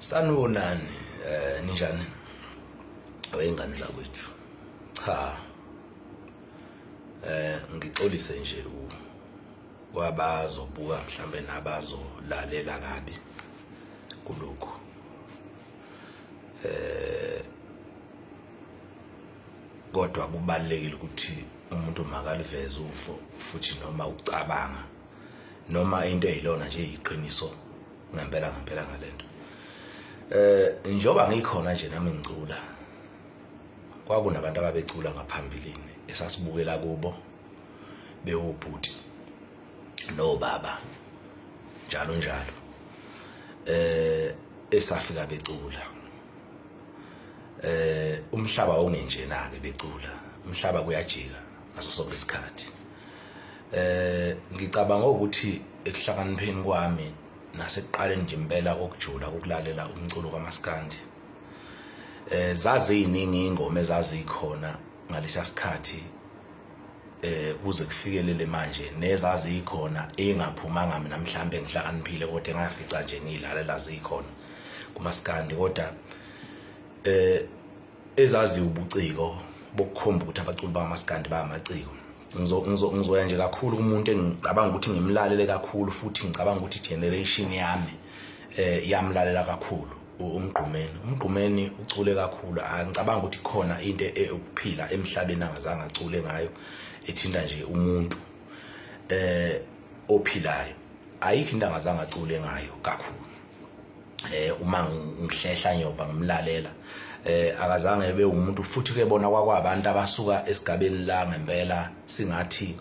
sanibonani eh ninjani wayengane zakwethu cha eh ngixolise nje u kwabazobuka mhlambe nabazolalela kabi kuloko eh kodwa kubalekile ukuthi umuntu makaliveze ufo futhi noma ucabanga noma into eyilona nje iqiniso ngempela ngempela ngalento eh njoba ngikhona nje nami ngicula kwakunabantu ababecula ngaphambilini esasibukela kubo bewubhuti nobaba njalo njalo eh esafika becula eh umhlaba ongenjena ke becula umhlaba kuyajika ngaso sonke isikhathi eh ngicabanga ukuthi ekuhlakanipheni kwami nasekuqaleni nje impela kokujula ukulalela umculo kamaskandi eh zaziyiningi ingoma ezazikhona ngalesa sikhathi eh kuze kufikelele manje nezazikhona engaphumanga mina mhlambe ngihlakaniphile kodwa engafica nje ngilalela zikhona kumaskandi kodwa eh ezazi ubuciko bokukhomba ukuthi abaculi bamaskandi bayamaciko ngizoya nje kakhulu kumuntu engicabanga ukuthi ngimlalele kakhulu futhi ngicabanga ukuthi generation yami eh yamlalela kakhulu umgqumeni umgqumeni ucule kakhulu angicabanga ukuthi khona into eyokuphila emhlabeni angazange acule ngayo ethinta nje umuntu eh ophilayo ayikho into angazange acule ngayo kakhulu eh uma ngihlehla ngiyoba ngimlalela eh akazange ebe umuntu futhi ke bona kwakwabantu abasuka esigabeni la ngempela singathi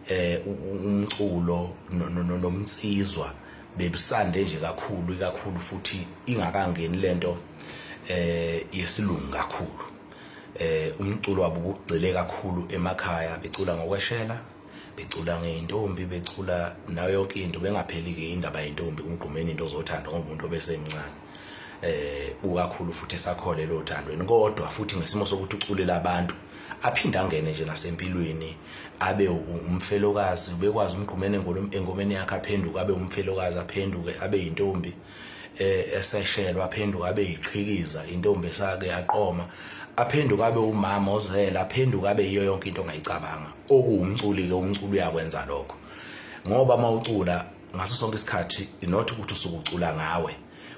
eh umculo nomnsizwa no, no, no, bebisande nje kakhulu ikakhulu futhi ingakangeni lento eh yesilungu kakhulu eh umculo wabo ubugcile kakhulu emakhaya becula ngokweshela becula ngeintombi becula nayo yonke into bengapheli ke indaba yentombi umgqumeni into ozothanda ngomuntu obesemncane eh ukakhulu futhi esakhole lo thandweni kodwa futhi ngesimo sokuthi uculela abantu aphinde angene nje nasempilweni abe umfelokazi ubekwazi umgqumene engomeni yakhe aphenduke abe umfelokazi aphenduke abe yintombi eh, eseshelwa aphenduke abe yiqhikiza intombi esake yaqoma aphenduke abe umama ozela aphenduke abe yiyo yonke into ongayicabanga okuwumculi ke umculi uyakwenza lokho ngoba mawucula ngaso sonke isikhathi not ukuthi usukucula ngawe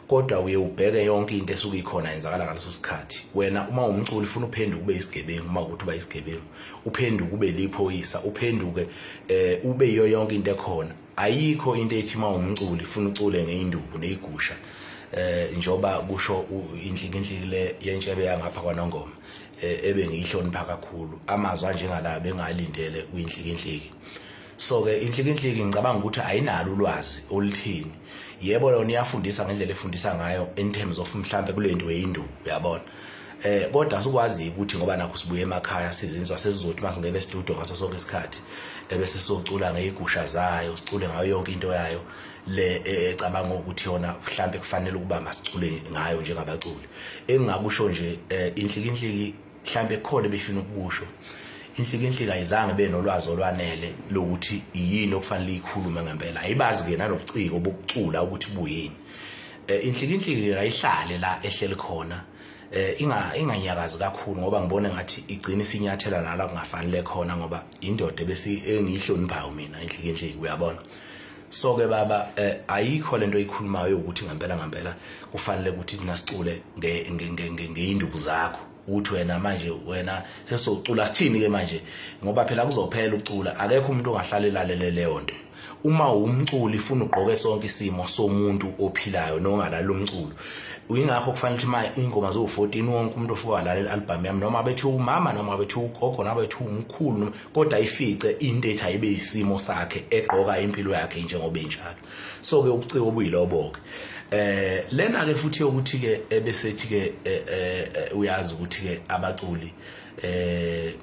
kodwa uye ubheke yonke into esuke ikhona yenzakala ngaleso sikhathi wena uma umculi ufuna uphenduke ube isigebengu uma ukuthi uba isigebengu uphenduke ube liphoyisa uphenduke eh ube yiyo yonke into ekhona ayikho into ethi uma umculi ufuna ucule ngeinduku neyigusha eh njoba kusho inhlikinhliki le yentshebe yangapha kwanongoma eh, ebe ngiyihlonipha kakhulu amazwi anjengala bengalindele kwinhlikinhliki so ke inhlikinhliki ngicabanga ukuthi ayinalo ulwazi oluthini yebo yona iyafundisa ngendlela efundisa ngayo in terms of mhlambe kule nto yeyindu uyabona eh kodwa sikwazi ukuthi ngoba nakho sibuye emakhaya sizinzwa sesizothi masingebe studio ngaso sonke isikhathi ebese socula ngeyigusha zayo sicule ngayo yonke into yayo le e, ecabanga ukuthi yona mhlambe kufanele ukuba masicule ngayo njengabaculi engingakusho nje eh, inhlikinhliki mhlambe khona befina ukukusho inhlikinhliki ayizange benolwazi olwanele lokuthi yini okufanele ikhulume ngempela ayibazi ke nanobuciko bokucula ukuthi buyini eh, inhlikinhliki ayihlale la ehleli khona eh, inga inganyakazi kakhulu ngoba ngibone ngathi igcina isinyathela nala kungafanele khona ngoba indoda bese engiyihloniphayo mina inhlikinhliki uyabona so ke baba eh, ayikho lento oyikhulumayo ukuthi ngampela ngampela kufanele ukuthi thina sicule ngeyinduku zakho ukuthi wena manje wena sesocula sithini ke manje ngoba phela kuzophela ucula akekho umuntu ongahlale lalele leyo nto uma umculi funa ugqoke sonke isimo somuntu ophilayo nongalala umculo uyingakho kufanele ukuthi manje ingoma zo 14 wonke umuntu ofuka lalela album yami noma bethi umama noma bethi ugogo noma bethi umkhulu kodwa ifice into ethi ayibe isimo sakhe egqoka impilo yakhe njengoba enjalo so ke ubuciko obuyilobo ke eh lena ke futhi ukuthi ke ebesethi ke eh, eh, eh, uyazi ukuthi ke abaculi eh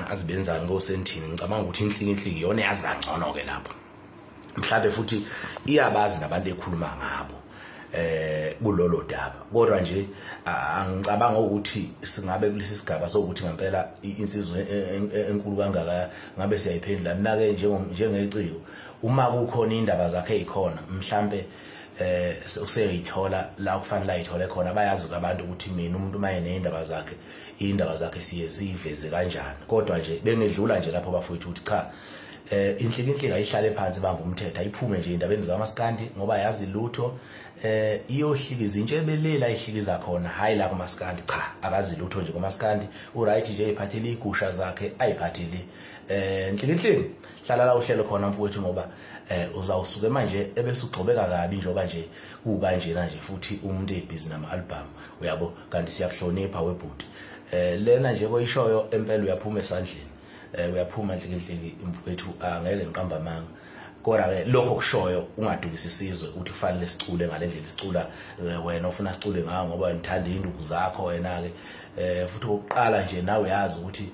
azibenzani ngosentini ngicabanga ukuthi inhliki inhliki yona yazi kangcono ke lapho mhlawumbe futhi iyabazi nabantu ekhuluma ngabo eh kulolo daba kodwa nje angicabanga ukuthi singabe kulesi sigaba sokuthi ngempela insizwe e, e, e, enkulu kangaka ngabe siyayiphendula mina ke njengeciko uma kukhona indaba zakhe ezikhona mhlambe eh useyithola la kufanele ayithole khona bayazi abantu ukuthi mina umuntu uma enezindaba zakhe indaba zakhe siye siveze kanjani kodwa nje bengedlula nje lapho bafowethu ukuthi cha eh inhlikinhlika ihlale phansi bambe umthetho ayiphume nje indabeni zamaskandi ngoba yazi lutho eh iyohlikiza intshe ebelela ihlikiza khona hayi la kumaskandi cha akazi lutho nje kumaskandi uright nje iphathele igusha zakhe ayiphathele eh nhlikinhlini hlala la uhlelo khona mfowethu ngoba eh uzawusuke manje ebese ugxobeka kabi njengoba nje kukanjena nje futhi umuntu ebhizi nama album uyabo kanti siyakuhlonipha webhuti eh lena nje koyishoyo empela uyaphuma esandleni eh uyaphuma nhlikinhliki mfowethu angeke ah, ngiqamba amanga kodwa ke lokho kushoyo ungadukisi isizwe ukuthi kufanele sicule ngalendlela sicula eh, wena ufuna sicule ngawo ngoba ngithanda induku zakho wena ke eh futhi ukuqala nje nawe uyazi ukuthi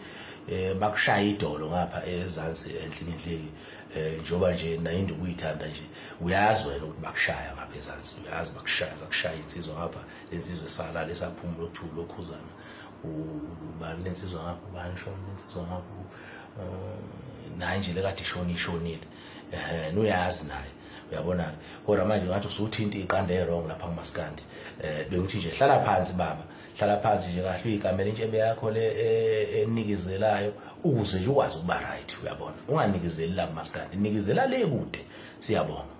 eh bakushaya idolo ngapha ezansi enhlikinhliki eh njoba nje nayindu kuyithanda nje uyazi wena ukuthi bakushaya ngapha ezansi uyazi bakushaya zakushaya insizwa ngapha lensizwe sala lesaphumulo kuthi lokhuzana ubani lensizwa ngakho ubani shona lensizwa ngakho eh, naye nje lekade ishona ishonile um nuyazi naye uyabona kodwa manje ngathi usuthinta iqanda e-wrong lapha kumaskandi um bengithi nje hlala phansi baba hlala phansi nje kahle uyigamela intshebe yakho le e, enikezelayo ukuze nje ukwazi ukuba right uyabona unganikezeli la kumaskandi nikezela le kude siyabonga